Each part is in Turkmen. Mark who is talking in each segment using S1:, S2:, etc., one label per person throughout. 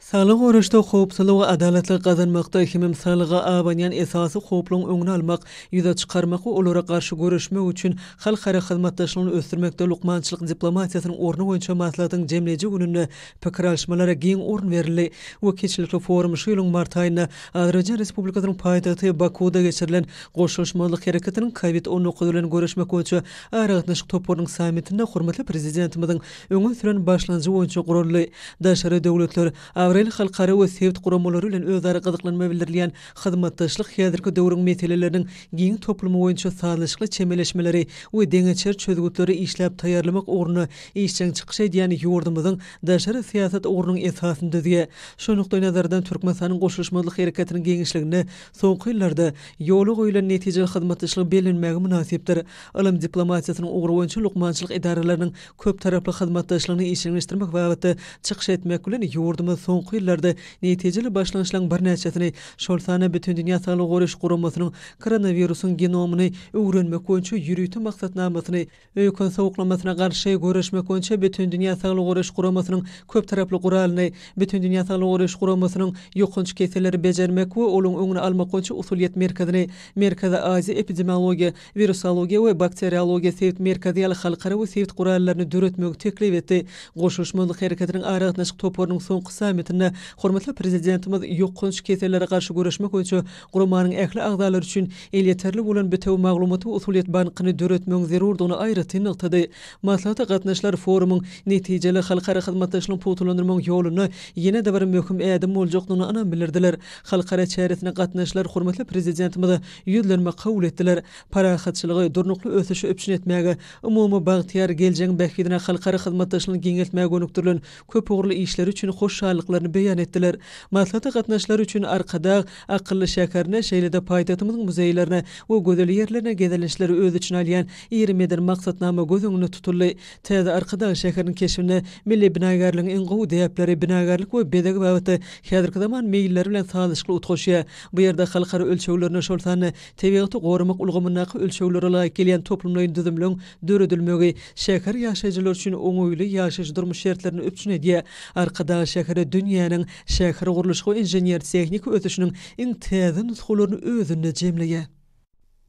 S1: Saglygy goraýyşda, howpsuzlyk we adalatlygy gazanmakda hemem saglyga abanýan esasy howplaryň öňüni almak, ýüze çykarmak we olara garşy göreşmek üçin halkara hyzmatdaşlygyny ösdürmekde lukmançylyk diplomatiýasynyň orny boýunça maslahatyň jemleýji gününde pikir alyşmalara giň orun berildi we kiçilikli forum şu ýylyň mart aýynda Azerbaýjan Respublikasynyň paýtagty Bakuwda geçirilen Goşulyşmazlyk hereketiniň COVID on dokuz bilen göreşmek boýunça aragatnaşyk toparynyň sammitinde hormatly Prezidentimiziň öňe süren başlanjy boýunça guraldy. Daşary döwletler, abraýly halkara we sebit guramalary bilen özara gyzyklanma bildirilýän hyzmatdaşlyk häzirki döwrüň meseleleriniň giň toplumy boýunça sazlaşykly çemeleşmeleri we deňeçer çözgütleri işläp taýýarlamak ugrunda işjeň çykyş edýän ýurdumyzyň daşary syýasat ugrunyň esasyny düzýär. Şu nukdaýnazardan Türkmenistanyň Goşulyşmazlyk Hereketiniň giňişliginde soňky ýyllarda ýola goýulan netijeli hyzmatdaşlygy bellenmäge mynasypdyr. Ylym diplomatiýasynyň ugry boýunça lukmançylyk edaralarynyň köptaraply hyzmatdaşlygyny işjeňleşdirmek babatda çykyş etmek bilen, ýurdumyz soňky ýyllarda netijeli başlangyçlaryň birnäçesini, şol sanda Bütindünýä Saglygy Goraýyş Guramasynyň koronawirusyň genomyny öwrenmek boýunça ýörite maksatnamasyny, öýken sowuklamasyna garşy göreşmek boýunça Bütindünýä Saglygy Goraýyş Guramasynyň köptaraply guralyny, Bütindünýä Saglygy Goraýyş Guramasynyň Ýokanç keselleri bejermek we olaryň öňüni almak boýunça usulyýet merkezini, Merkezi Aziýa epidemiologiýa Wirusologiýa we bakteriologiýa sebit merkezi ýaly halkara we sebit gurallaryny döretmegi teklip etdi. Goşulyşmazlyk hereketiniň aragatnaşyk toparynyň soňky sammitinde hormatly Prezidentimiz ýokanç kesellere garşy göreşmek boýunça guramanyň ähli agzalary üçin elýeterli bolan bitewi maglumat we usulyýet bankyny döretmegiň zerurdygyny aýratyn nygtady. Maslahata gatnaşyjylar forumyň netijeli halkara hyzmatdaşlygyny pugtalandyrmagyň ýolunda ýene-de bir möhüm ädim boljakdygyna ynam bildirdiler. Halkara çäresine gatnaşyjylar hormatly Prezidentimize Ýüzlenme kabul etdiler. Parahatçylygy, durnukly ösüşi üpjün etmäge, umumy bagtyýar geljegiň bähbidine halkara hyzmatdaşlygyny giňeltmäge gönükdirilen köpugurly işleri üçin hoşallyklaryny beýan etdiler. Maslahata gatnaşyjylar üçin Arkadag akylly şäherine, şeýle-de paýtagtymyzyň muzeýlerine we gözel ýerlerine gezelençleri öz içine alýan iri medeni maksatnama göz öňünde tutuldy. Täze Arkadag şäheriniň keşbinde milli binagärligiň iň gowy däpleri binagärlik we bezeg babatda häzirki zaman meýilleri bilen sazlaşykly utgaşýar. Bu ýerde halkara ölçeglerine, şol sanda tebigaty goramak ulgamyndaky ölçeglere laýyk gelýän toplumlaýyn düzümleriň döredilmegi şäher ýaşaýjylary üçin oňaýly ýaşaýyş-durmuş şertlerini üpjün edýär. Arkadag şäheri dünýäniň şähergurluşyk inžener-tehniki ösüşiniň iň täze nusgalaryny özünde jemleýär.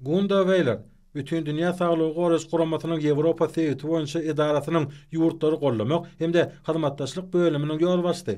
S1: Gunda
S2: Weýler, Bütindünýä saglygy goraýyş guramasynyň Ýewropa sebiti boýunça edarasynyň ýurtlary gollamak hem-de hyzmatdaşlyk bölüminiň ýolbaşçysy,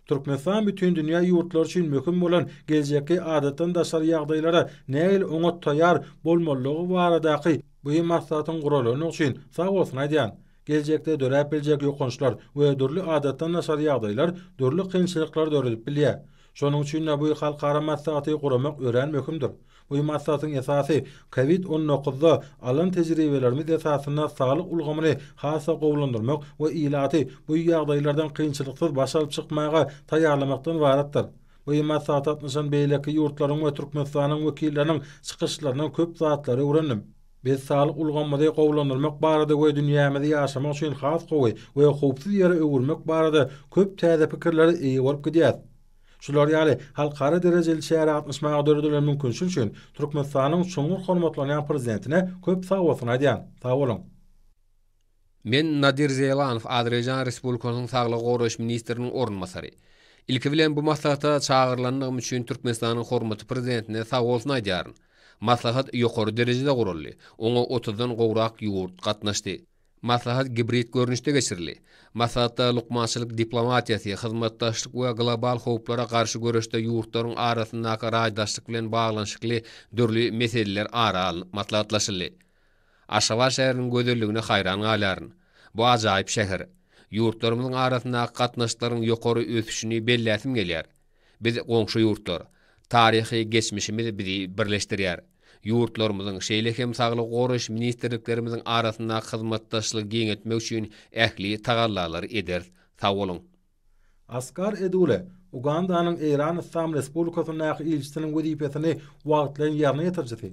S2: Türkmenistan bütindünýä ýurtlary üçin möhüm bolan geljekki adatdan daşary ýagdaýlara nähili oňat taýýar bolmalydygy baradaky bu maslahatyň guralandygy üçin sag bolsun aýdýan. Geljekde döräp biljek ýokançlar we dürli adatdan daşary ýagdaýlar dürli kynçylyklary döredip bilýär. Şonuň üçin-de bu halkara maslahaty guramak örän möhümdir. Bu maslahatyň esasy, covid on dokuzda alan tejribelerimiz esasynda saglyk ulgamyny has-da gowulandyrmak we ilaty bu ýagdaýlardan kynçylyksyz baş alyp çykmaga taýýarlamakdan ybaratdyr. Bu maslahata gatnaşan beýleki ýurtlaryň we Türkmenistanyň wekilleriniň çykyşlaryndan köp zatlary öwrendim. Biz saglyk ulgamymyzy gowulandyrmak barada we dünýämizi ýaşamak üçin has gowy we howpsuz ýere öwürmek barada köp täze pikirlere eýe bolup gidýäris. Şular ýaly halkara derejeli çärä gatnaşmaga döredilen mümkinçilik üçin Türkmenistanyň çuňňur hormatlanýan Prezidentine köp sagbolsun aýdýan. Sagboluň!
S3: Men Nadir Zeýlanow, Azerbaýjan Respublikasynyň Saglygy goraýyş ministriniň orunbasary. Ilki bilen bu maslahata çagyrylandygym üçin Türkmenistanyň hormatly Prezidentine sagbolsun aýdýaryn. Maslahat ýokary derejede guraldy. Oňa otuzdan gowrak ýurt gatnaşdy. Maslahat gibrid görnüşde geçirildi. Maslahatda lukmançylyk diplomatiýasy, hyzmatdaşlyk we global howplara garşy göreşde ýurtlaryň arasyndaky raýdaşlyk bilen baglanyşykly dürli meseleler ara alnyp maslahatlaşyldy. Aşgabat şäheriniň gözelligine haýran galýaryn. Bu ajaýyp şäher. Ýurtlarymyzyň arasyndaky gatnaşyklaryň ýokary ösüşini belläsim gelýär. Biz goňşy ýurtlar. Taryhy geçmişimiz bizi birleşdirýär. Ýurtlarymyzyň, şeýle hem saglygy goraýyş ministrliklerimiziň arasyndaky hyzmatdaşlygy giňeltmek üçin ähli tagallalary ederis. Sag boluň! Asgar
S2: Edule, Ugandanyň Eýran Yslam Respublikasyndaky ilçisiniň wezipesini wagtlaýyn ýerine ýetirijisi.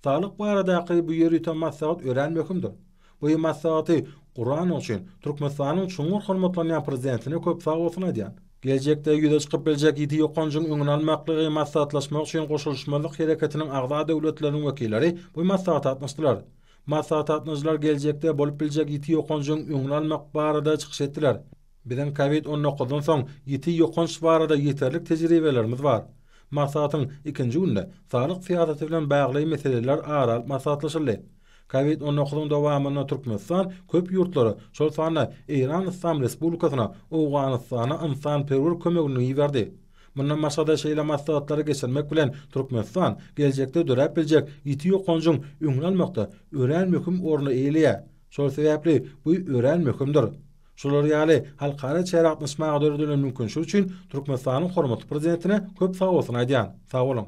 S2: Saglyk baradaky bu ýörite maslahat örän möhümdir. Bu maslahaty guranyň üçin Türkmenistanyň çuňňur hormatlanýan Prezidentine köp sag bolsun aýdýan. Geljekde ýüze çykyp biljek ýiti ýokanjyň öňüni almaklygy maslahatlaşmak üçin Goşulyşmazlyk hereketiniň agza döwletleriniň wekilleri bu maslahata gatnaşdylar. Maslahata gatnaşyjylar geljekde bolup biljek ýiti ýokanjyň öňüni almak barada çykyş etdiler. Biziň covid on dokuzdan soň ýiti ýokanç barada ýeterlik tejribelerimiz bar. Maslahatyň ikinji günde saglyk syýasaty bilen bagly meseleler ara alyp maslahatlaşyldy. Covid on dokuzyň dowamynda Türkmenistan köp ýurtlara, şol sanda Eýran Yslam Respublikasyna, Owganystana ynsanperwer kömegini iberdi. Mundan başga-da şeýle maslahatlary geçirmek bilen Türkmenistan geljekde döräp biljek ýiti ýokanjyň öňüni almakda örän möhüm orny eýeleýär. Şol sebäpli bu örän möhümdir. Şular ýaly halkara çäre gatnaşmaga döredilen mümkinçilik üçin Türkmenistanyň hormatly Prezidentine köp sagbolsun aýdýan. Sag boluň!